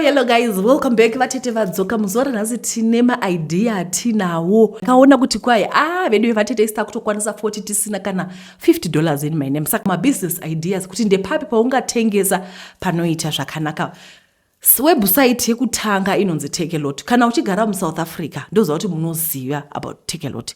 hello guys welcome back vatete vadzoka muzuva ranhasi tine maidea atinawo akaona kuti kwai a ah, vedu vevatete isi takutokwanisa 40 tisina kana 50 dollars in my name saka mabusiness ideas kuti ndepapi paungatengesa panoita zvakanaka website yekutanga inonzi tekelot kana uchigara musouth africa ndoziva kuti munoziva about tekelot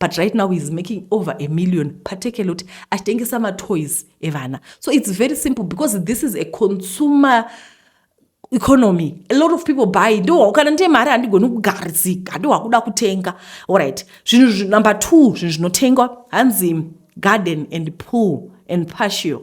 but right now he's making over a million patekelot achitengesa matoys evana so it's very simple because this is a consumer economy a lot of people buy ndo kana ndie mari handigoni kugarisika ndo wakuda kutenga allright zvinhu number two zvinhu zvinotengwa hanzi garden and pool and patio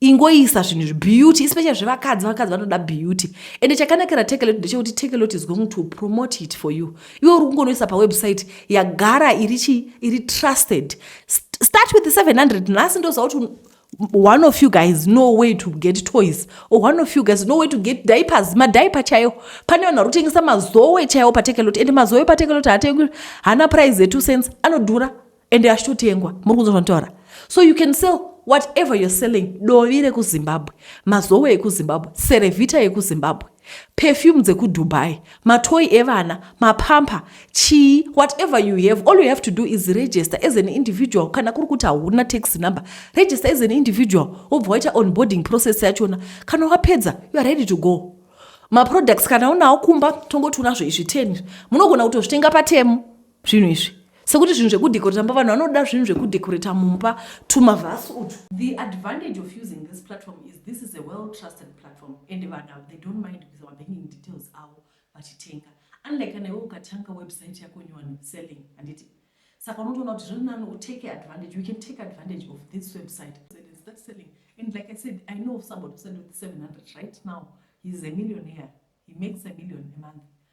ingoisa zvinhu izvi beauty especially zvevakadzi vakadzi vanoda beauty ende chakanakira tekelot ndechekuti tekelot is going to promote it for you iwe uri kungonoisa pawebsite yagara iri chi iri trusted start with 700 nhasi ndoziva kuti one of you guys no way to get toys or one of you guys no way to get diapers madiaper chaiwo pane vanhu vari kutengesa mazowe chaiwo patekelot ende mazowe patekelot haatengwi haana price e2 cents anodhura ende achitotengwa muri kunzwa zvanotaura so you can sell whatever you're selling dovi rekuzimbabwe mazowe ekuzimbabwe serevhita yekuzimbabwe perfume dzekudubai matoyi evana mapamper chii whatever you have all you have to do is register as an individual kana kuri kuti hauna tax number register as an individual wobva waita onboarding process yachona kana wapedza youare ready to go maproducts kana unawo kumba tongoti unazvo izvi 10 munogona kutozvitenga patemu zvinhu izvi sekuti zvinhu zvekudecorata mba vanhu vanoda zvinhu zvekudecorata mumba tumavhasi utu the advantage of using this platform is this is a well trusted platform and vanhu they don't mind with our banking details avo vachitenga unlike kana iwe ukatanga website yako nyowani selling handiti saka unotoona kuti zviri nani utake advantage you can take advantage of this website start selling and like i said i know somebody who sell with 700 right now he's a millionaire he makes a million a month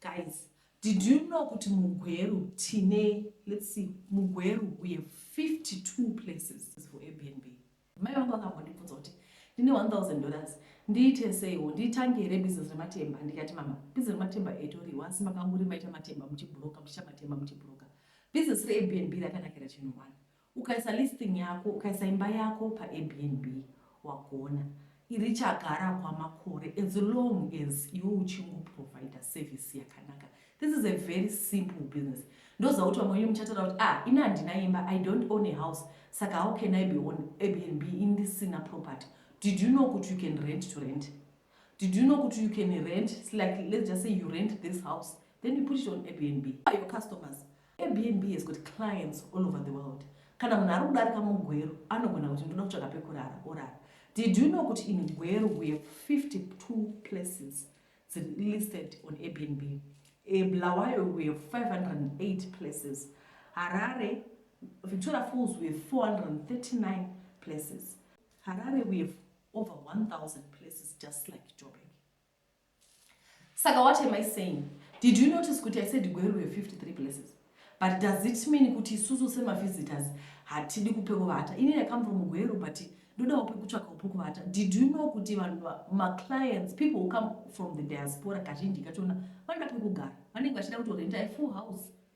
Guys, did you know kuti muGweru tine let's see muGweru we have 52 places for Airbnb. Mai vangu vakambondibvunza kuti ndine 1000 dollars ndiite seiwo nditange here business rematemba ndikati mama business rematemba etoriwa asi makanguri maita matemba muchibhuroka muchiita matemba muchibhuroka business reAirBnB rakanakira chinhu one Ukaisa listing yako, ukaisa imba yako pa Airbnb wagona iri chagara kwamakore as long as iwe uchingo provider service yakanaka. This is a very simple business. Ndoziva kuti vamwe venyu muchatara kuti ah ini handina imba, I don't own a house, saka how can I be on Airbnb indisina property? Did you know kuti you can rent to rent? Did you know kuti you can rent like let's just say you rent this house then you put it on Airbnb. Your customers Airbnb has got clients all over the world. Kana munhu ari kudarika mugweru anogona kuti ndoda kutsvaga pekurara orara. Did you know kuti in Gweru we have 52 places listed on Airbnb? In Bulawayo we have 508 places. Harare, Victoria Falls we have 439 places. Harare we have over 1,000 places just like Joburg. Saka what am I saying? Did you notice kuti I said Gweru have 53 places? But does it mean kuti isusu semavisitors hatidi kupekuvata? Ini I come from Gweru but ndodawo pekutsvakawo pekuvata. Did you know kuti vanhu maclients, people who come from the diaspora kazhinji kachona vanoda pekugara. Vanenge vachida kutorenta a full house.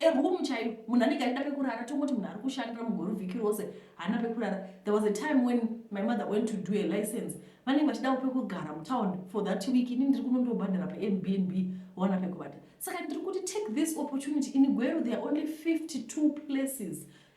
A room chaiyo munhu anenge aida pekurara tongoti munhu ari kushandira mugore vhiki rose haana pekurara there was a time when my mother went to do a license vanenge vachidawo pekugara mutown for that week ini ndiri kunondobhadhara paairbnb waona pekubata saka ndiri kuti take this opportunity ini gweru there are only 52 places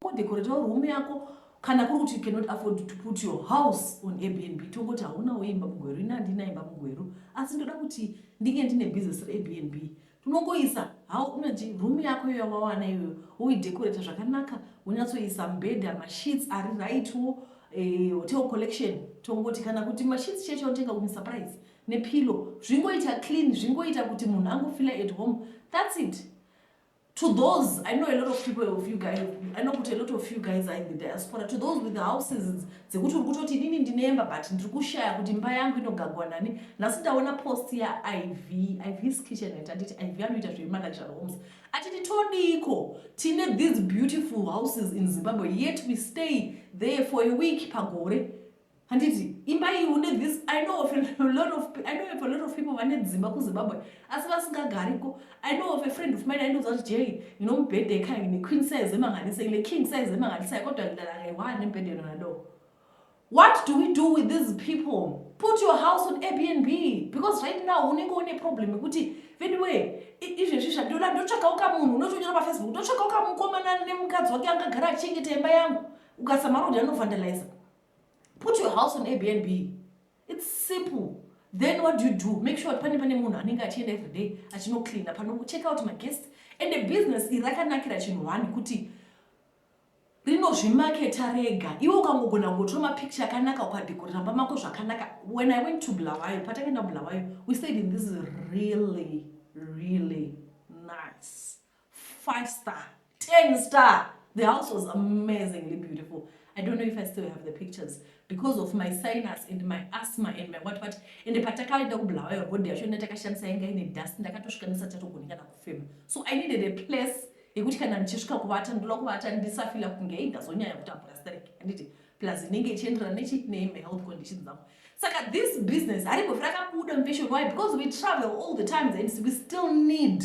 Kodekoretawo room yako kana kuri kuti you cannot afford to put your house on airbnb tongoti haunawo imba mugweru ini handina imba mugweru asi ndoda kuti ndinge ndine business reairbnb tunongoisa hau unoji room yako iyo yawawana iyoyo woidekoreta zvakanaka wonyatsoisa mbedha masheets ari rightwo eh, hotel collection tongoti kana kuti masheets cheche otenga kumi surprise nepilo zvingoita clean zvingoita kuti munhu angofila at home thats it to those i know a lot of people of you guys i know kuti a lot of you guys are in the diaspora to those with the houses dzekuti uri kutoti inini ndinemba but ndiri kushaya kuti mba yangu inogagwa nani nhasi ndaona post yaiv ivs kitchen it anditi iv anoita zvemanager homes atiti todiko tine these beautiful houses in zimbabwe yet we stay there for a week pagore handiti imba iyi une this i know of a lot of i know of a lot of people vane dzimba kuzimbabwe asi vasingagariko i know of a friend of mine aindoza kuti jay ino mubhedha yekaya ine queen size emanganisa ine king size emanganisa kodwa ndalarewa nemubhedha inonado what do we do with these people put your house on airbnb because right now unenge une problem yekuti veduwe izvezvi zvandoda ndotsvakawo kamunhu unotonyora pafacebook ndotsvakawo kamukomana nemukadzi wake angagara achengeta imba yangu ukasamara kuti anovandaliza put your house on airbnb its simple then what do you do make sure kuti pane pane munhu anenge achienda every day achinocleana panocheck out maguest and the business iri rakanakira chinhu one kuti rinozvimaketa rega iwe ukangogona kungotora mapicture akanaka ukadekorera mba mako zvakanaka when i went to bulawayo patakaenda bulawayo we stayed in this really really nice five star ten star the house was amazingly beautiful i don't know if i still have the pictures because of my sinus and my asthma and my what what and patakaenda kubulawayo road yacho ina takashandisa yanga ine dust ndakatosvika ndisachatogoni kana kufema so i needed a place yekuti kana ndichisvika kuvata ndoda kuvata ndisafila kunge ei ndazonyanya kutambura sterek anditi plus inenge ichienderana nechii name health conditions dzangu saka this business haribhofi rakabuda mveshoni why because we travel all the times and we still need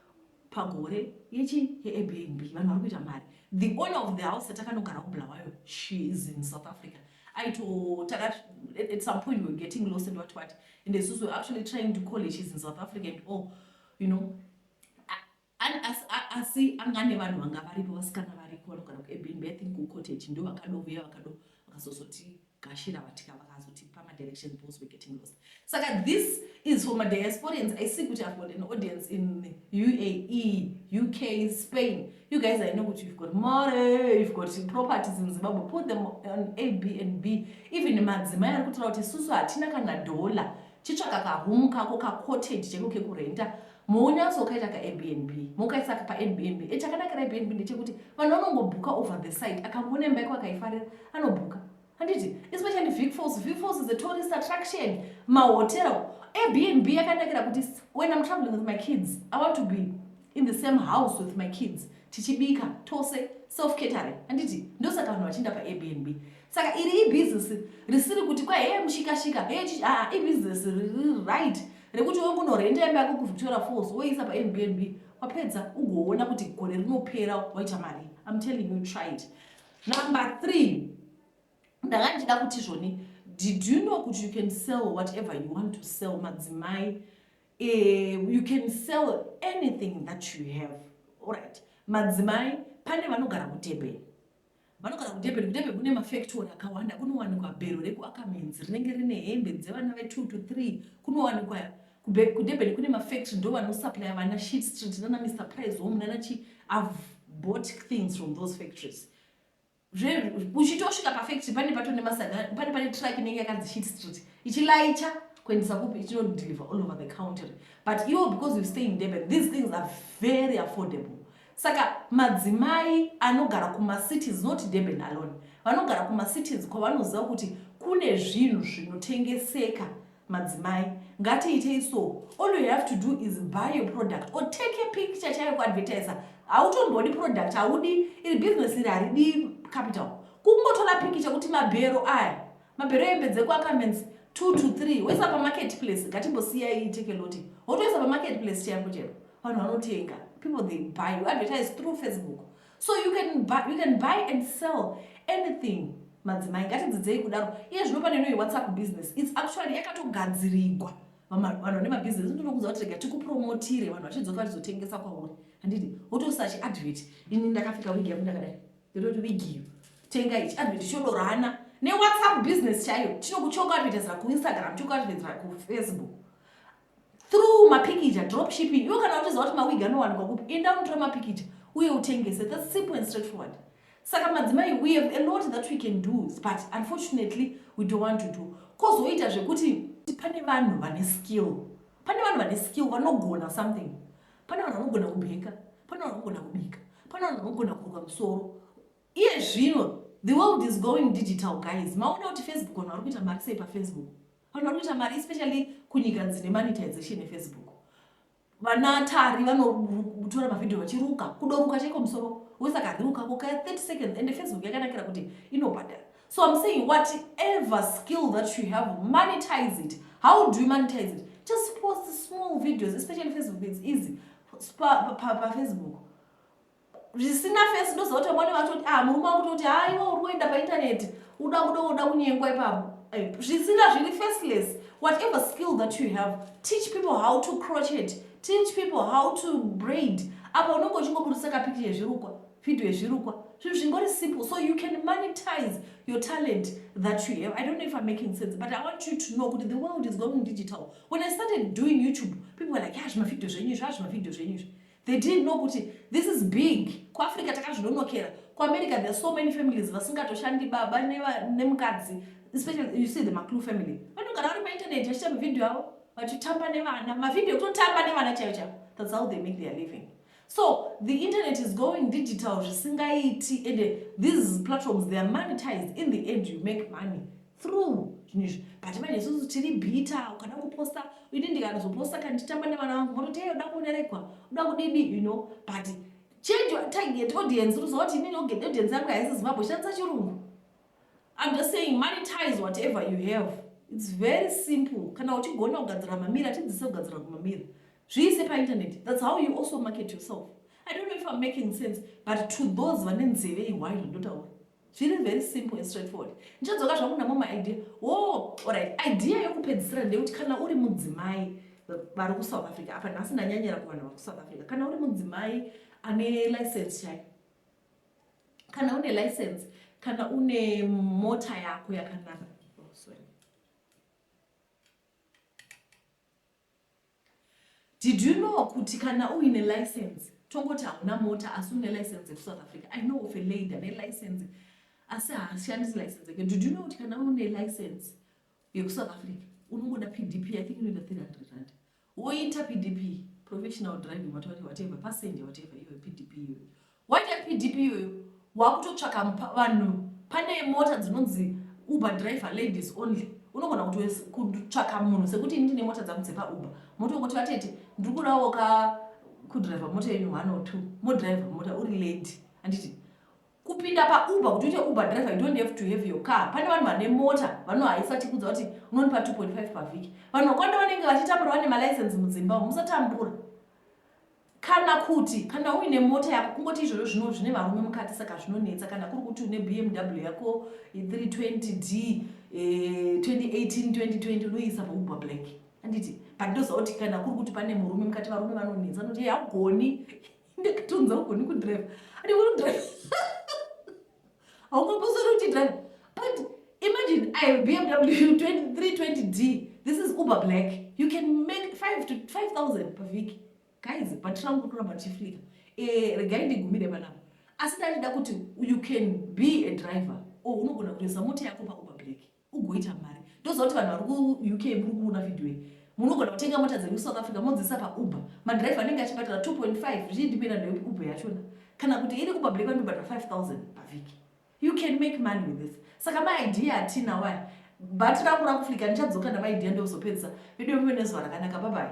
pagore yechi yeAirBnb vanhu vari kuita mari the owner of the house yatakanogara kuBulawayo she is in South Africa aito taka at some point we were getting lost and what what and isusu were actually trying to call her she's in South Africa and all you know asi anga ne vanhu vanga varipo vasikana variko vanogara kuAirBnb I think kuCottage ndo vakadovuya vakado vakazozoti gashira vatika vakazotipa madirection those were getting lost saka this is for madiasporians i see kuti i've got an audience in uae uk spain you guys i know kuti you've got more you've got properties in zimbabwe put them on a b and b even madzimai ari kutora kuti susu hatina kana dollar chitsvaka kahomu kako kacottage cheko kekurenta Muunyanzvi wakaita ka Airbnb mukaisa ka pa Airbnb e chakanakira Airbnb ndechekuti vanhu vanongobhuka over the site akangoona imba yako akaifarira anobhuka handiti especially Vic Falls Vic Falls is a tourist attraction mahotel Airbnb yakanakira kuti when I'm traveling with my kids I want to be in the same house with my kids tichibika tose self catering handiti ndosaka vanhu vachienda pa Airbnb saka iri ibhizinesi risiri kuti kwa heye mushikashika heye chichi aa ibhizinesi riri right rekuti we kunorhenda imba yako kuvitora force woiisa paairbnb wapedza ugoona kuti gore rinopera waita mari im telling you try it number three ndanga ndichida kuti zvoni did you know kuti you can sell whatever you want to sell madzimai uh, you can sell anything that you have allright madzimai pane vanogara kutebeni Vanogara kuDurban. KuDurban kune mafektori akawanda. Kunowanikwa bhero rekuAckermans rinenge rine hembe dzevana ve2 to 3. Kunowanikwa kuDurban kune mafektori ndo vanosuplya vana Sheet Street nana Mr Price Home nana chi I've bought things from those factories. Uchitosvika pafektori pane pato nemasana pane pane truck inenge yakanzi Sheet Street ichilaicha kuendesa kupi ichinodeliver all over the country but iwo because you stay in Durban these things are very affordable Saka madzimai anogara kumacities not Durban alone vanogara kumacities kwavanoziva kuti kune zvinhu zvinotengeseka madzimai ngatiitei so all you have to do is buy your product or take a picture chaiyo kuadvertisa hautombodi product haudi iri business iri haridi capital kungotora pikicha kuti mabhero aya mabhero embe dzekuacamens two to three woisa pamarket place ngatimbosiyai tekeloti wotoisa pamarket place chaipo chaipo vanhu vanotenga people they buy you advertise through facebook so you can buy, you can buy and sell anything madzimai ngatidzidzei kudaro iye zvino pane inoyi whatsapp business its actually yakatogadzirigwa vanhu vane mabusiness ndinokuudza kuti rega tikupromotire vanhu vachidzoka vachizotengesa kwauri handiti wotosachi advert ini ndakapfeka wigi yangu ndakadai ndototi wigi iyo tenga ichi advert chodorana newhatsapp business chaiyo chinokuchoka advertisera kuinstagram chokuadvertisera kufacebook through mapikija drop shipping iwo kana uchiziva kuti mawig anowanikwa kupi enda unotora mapikija uye utengese thats simple and straight forward saka madzimai we have a lot that we can do but unfortunately we don't want to do kozoita zvekuti pane vanhu vane skill pane vanhu vane skill vanogona something pane vanhu vanogona kubheka pane vanhu vanogona kubika pane vanhu vanogona kuruka musoro iye zvino the world is going digital guys maona kuti facebook vanhu vari kuita mari sei pafacebook Vanhu vari kuita mari especially kunyika dzine monetization yefacebook. Vana tari vanotora mavhidhiyo vachiruka, kudoruka chaiko musoro wese akaruka kuka 30 seconds and Facebook yakanakira kuti inobhadhara. So I'm saying whatever skill that you have, monetize it. How do you monetize it? Just post small videos, especially Facebook, it's easy. Pa, pa, pa Facebook. zvisina fesi ndoziva kuti vamwene vatoti ah murume wangu toti ha ah, iwe uri kuenda paintaneti uda kuda uda kunyengwa ipapo eh, zvisina zviri faceless whatever skill that you have teach people how to crochet teach people how to braid apa unenge uchingoburitsa kapiki yezvirukwa video yezvirukwa zvinhu zvingori simple so you can monetize your talent that you have i don't know if i'm making sense but i want you to know kuti the world is going digital when i started doing youtube people were like ya ah, zvimavideo zvenyu izvi a ah, zvimavideo zvenyu izvi They didn't know kuti this is big. KuAfrica takazvinonokera. KuAmerica there are so many families vasingatoshandi baba nemukadzi especially you see the Maklu family. Vanogara vari painternet vachiita mavideo avo vachitamba nevana. Mavideo kutotamba nevana chaiyo chaiyo. That's how they make their living. So the internet is going digital zvisingaiti and these platforms they are monetized in the end you make money. through zvinhu izvi but manje isusu tiri bhita ukada kuposta ini ndikanozoposta kana ndichitamba nevana vangu mototi hey uda kunerekwa uda kudidi you know but change your target audience unoziva kuti inini audience yangu haisi zimbabwe shandisa chirungu i'm just saying monetize whatever you have its very simple kana uchigona kugadzira mamira tidzise kugadzira kumamira zviise painternet thats how you also market yourself i don't know if i'm making sense but to those vane nzeve ihwaizvo ndotaura Zviri very simple and straight forward. Ndichadzoka zvangu namo ma idea. Woo, alright. Idea yokupedzisira ndeyekuti kana uri mudzimai vari ku South Africa apa nhasi ndanyanyira kuvanhu vari ku South Africa. Kana uri mudzimai ane license chai. Kana une license, kana une mota yako yakanaka. Did you know kuti kana uine license tongoti hauna mota asi une license yekusouth africa i know of a lady ane license asi haashandisi license yake did you know kuti kana une license yekusouth africa unongoda pdp i think inoita 300 rand woita pdp professional driving whatever passenger whatever iyoyo pdp iyoyo Waita PDP iyoyo wakutotsvaka vanhu pane mota dzinonzi Uber driver ladies only unogona kutsvaka munhu sekuti ini ndine mota dzangu dzepa Uber motongoti vatete ndiri kudawo ka kudriver mota yenyu one or two modriver mota uri lady anditi kupinda pauber kuti uite uber driver you don't have to have your car pane vanhu vane mota vanhu haisati kudza kuti unonipa 2.5 pavhiki vanhu vakwanda vanenge vachitambura vane malicense mudzimba musatambura Kana kuti kana uine mota yako kungoti izvozvo zvino zvine varume mukati saka zvinonetsa kana kuri kuti une BMW yako 320D 2018 2020 unoisa paubwa black anditi but ndoziva kuti kana kuri kuti pane murume mukati varume vanonetsa anoti haugoni ndakatonza ugoni kudrive ati unodrive haungambozori uchidrive but imagine i bmw 320d this is uber black you can make 5 to 5000 pavhiki guys but rangu rinoramba richiflika eh, regai ndigumire panapa asi ndandida kuti you can be a driver or unogona kutoisa mota yako pauber black ugoita mari ndozoti vanhu vari kuuk muri kuona vhidhiyo iyi munogona kutenga mota dzenyu south africa modziisa pauber madhiraivha anenge achibhadhara 2.5 zvichidipenda nekuti uber yachona kana kuti iri uber black vanobhadhara 5000 pavhiki you can make money with this saka maidea atina waya bhati rangu rakuflika ndichadzoka namaidea ndokuzopedzisa vedu vemuve nezuva rakanaka babai